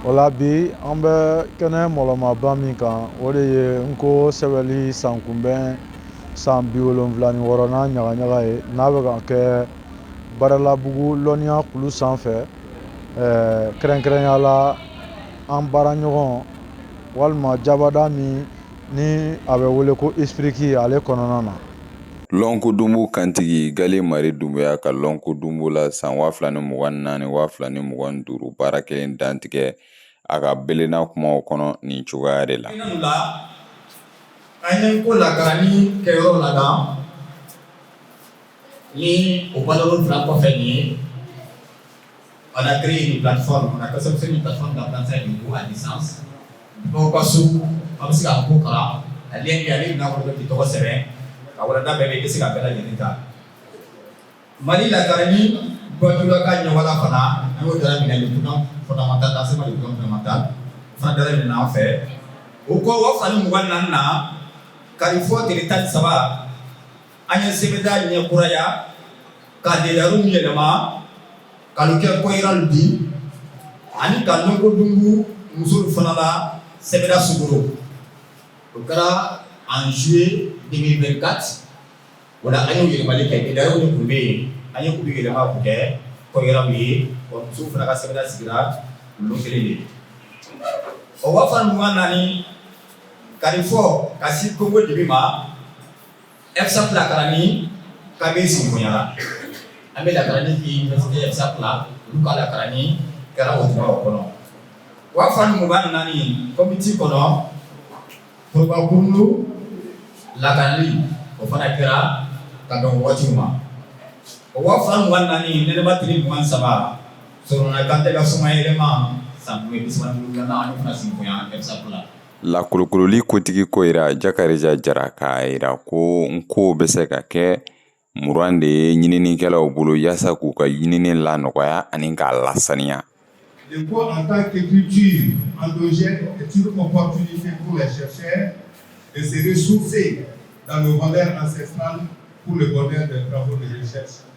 O la bi an bɛ kɛnɛ mɔlɔmaba min kan o de ye Nko sɛbɛnli san kunbɛn san bi wolonwula ni wɔɔrɔna ɲagaɲaga ye n'a bɛ ka kɛ Badalabugu lɔnniya kulu sanfɛ kɛrɛnkɛrɛnya la an baara ɲɔgɔn walima jabada min ni a bɛ wele ko ISPRIC ale kɔnɔna na lɔnko dunbu kantigi gale mari Dunbuya ka lɔnko dunbu la san waa fila ni mugan naani waa fila ni mugan duuru baara kɛlen dantigɛ a ka belenna kumaw kɔnɔ nin cogoya de la an ye ko la ni kɛ yɔrɔ la ni o bala kɔfɛ ye On a créé une plateforme, on a conception d'une plateforme d'apprentissage de cours à distance. N'o ka so an bɛ se k'a ko kalan a lien bɛ ale bɛna wolo k'i tɔgɔ sɛbɛn ka walanda bɛɛ bɛ i bɛ se ka bɛɛ lajɛlen ta Mali la garani bɔtula ka ɲɔgɔnna fana an y'o dara minɛ le plan fondamental la c'est pas le plan fondamental fana dara minɛ an fɛ o kɔ waa fila ni mugan ni naani na karifɔ tile tan ni saba an ye sɛbɛnda ɲɛ kuraya ka deliw yɛlɛma ka kɛ koyiralu di ani ka lɔnko dunbu musolu fana la sɛbɛnda sigi o kɛra en juillet deux mille vingt-quatre o an ye yɛlɛma kɛ gɛlɛya de tun bɛ yen an ye kulu yɛlɛma k'u kɛ koyiralu ye wa muso fana ka sɛbɛnda sigira olu kelen de o waa fila mugan naani karifɔ ka se konkodibi ma FSAP lakaranni ka sinbonɲayara an bɛ lakaranni kɛ FSAP la olu ka lakaranni kɛra o tuma kɔnɔ waa fila mugan naani konbiti kɔnɔ furukun lakaranni o fana kɛra ka dɔn waati ma o waa fila mugan naani nɛnɛba tile mugan saba sɔrɔ kan tɛ ka somaɛlɛma san ye bisa ani fana sinbonyan FSAP la Lakolokololi kotigi koyira Jakarija Jara k'a jira ko Nko bɛ se ka kɛ muran de ye ɲininikɛlaw bolo yaasa k'u ka ɲinini lanɔgɔya ani k'a lasaniya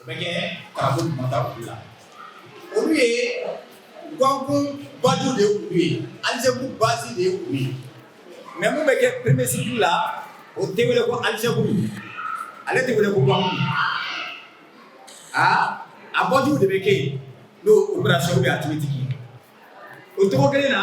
O bɛ kɛ kab mada u la olu ye gakun baju de tun bɛ yen algèbre basi de tun bɛ yen mais minnu bɛ kɛ premier cycle la o tɛ wele ko algèbre ale tɛ wele ko gakun a a baju de bɛ kɛ yen n'o opérationw ye a tigi tigi o tɔgɔ kelen na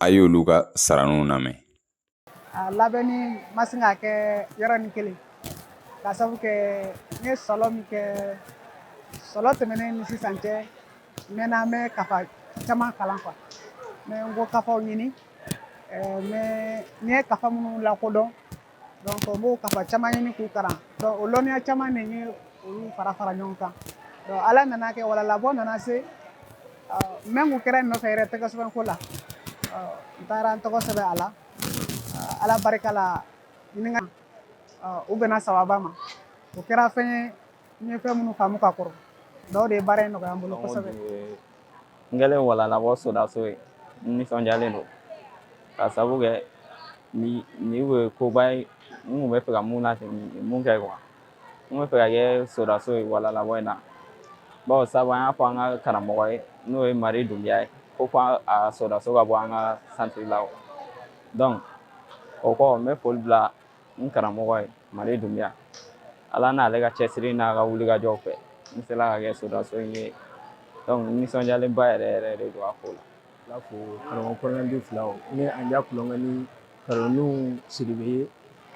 a y'olu ka saraniw lamɛn a labɛnni ma sin ka kɛ yɔrɔnin kelen ka sabu kɛ n ye sɔlɔ min kɛ sɔlɔ tɛmɛnen ni sisan cɛ n mɛnna n bɛ kafa caman kalan quoi n bɛ nko kafaw ɲini n ye kafa minnu lakodɔn Donc n b'o kafa caman ɲini k'u kalan o lɔnniya caman min ye olu fara fara ɲɔgɔn kan ala nana kɛ walalabɔ nana se même u kɛra n nɔfɛ yɛrɛ tɔgɔ sɛbɛn ko la n taara n tɔgɔ sɛbɛn a la ala barika la o bɛnna sawaba ma o kɛra fɛn ye fɛn minnu faamu ka kɔrɔ dɔw de ye baara in nɔgɔya n bolo kosɛbɛ N kɛlen walalabɔ sodanso ye n nisɔndiyalen don ka sabu kɛ nin ye koba ye n b'a fɛ ka min min kɛ quoi n b'a fɛ ka kɛ sodanso ye walalabɔ in na bawo sabu an y'a fɔ an ka karamɔgɔ ye n'o ye Mari Dunbiya ye ko ka sodanso ka bɔ an ka santiri la donc o kɔ n bɛ foli bila n karamɔgɔ ye Mari Dunbiya ala n'ale ka cɛsiri n'a ka wulikajɔw fɛ n sela ka kɛ sodanso in ye donc n nisɔndiyalenba yɛrɛ yɛrɛ de don a ko la ala fo karamɔgɔ kɔnɔnandi fila o ni an ja kulonkɛ ni kalanniw siribe ye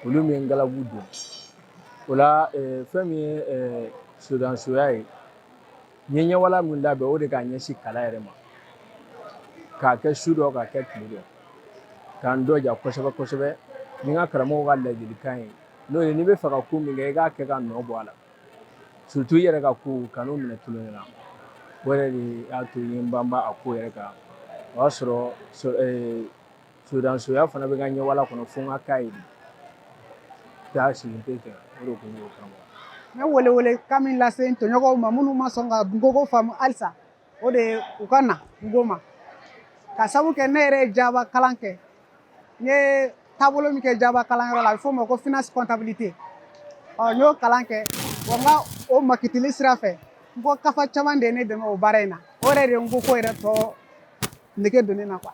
olu min ye n galabu don o la fɛn min ye sodansoya ye N ye ɲɛwalan min labɛn o de k'a ɲɛsin kalan yɛrɛ ma k'a kɛ su dɔ k'a kɛ tile dɔ ka n dɔja kosɛbɛ kosɛbɛ ni n ka karamɔgɔ ka laadilikan ye n'o ye n'i b'a fɛ ka ko min kɛ i k'a kɛ ka nɔ bɔ a la surtout i yɛrɛ ka ko kanu minɛ tiɲɛ na o yɛrɛ de y'a to n ye n banba a ko yɛrɛ kan o y'a sɔrɔ Sosoya fana bɛ n ka ɲɛwalan kɔnɔ fo n ka k'a ye de, taa sigi n tɛ jɛn o de kun ye o kama, n bɛ wele wele kan min lase n tɔɲɔgɔnw ma minnu ma sɔn ka nko ko faamu halisa o de ye u ka na nko ma ka sabu kɛ ne yɛrɛ ye Jaba kalan kɛ n ye taabolo min kɛ Jaba kalanyɔrɔ la a bɛ f'o ma ko finance comptabilité ɔ n y'o kalan kɛ wa n ka o makitili sira fɛ nko kafa caman de ye ne dɛmɛ o baara in na o yɛrɛ de ye nko ko yɛrɛ tɔ nege don ne na quoi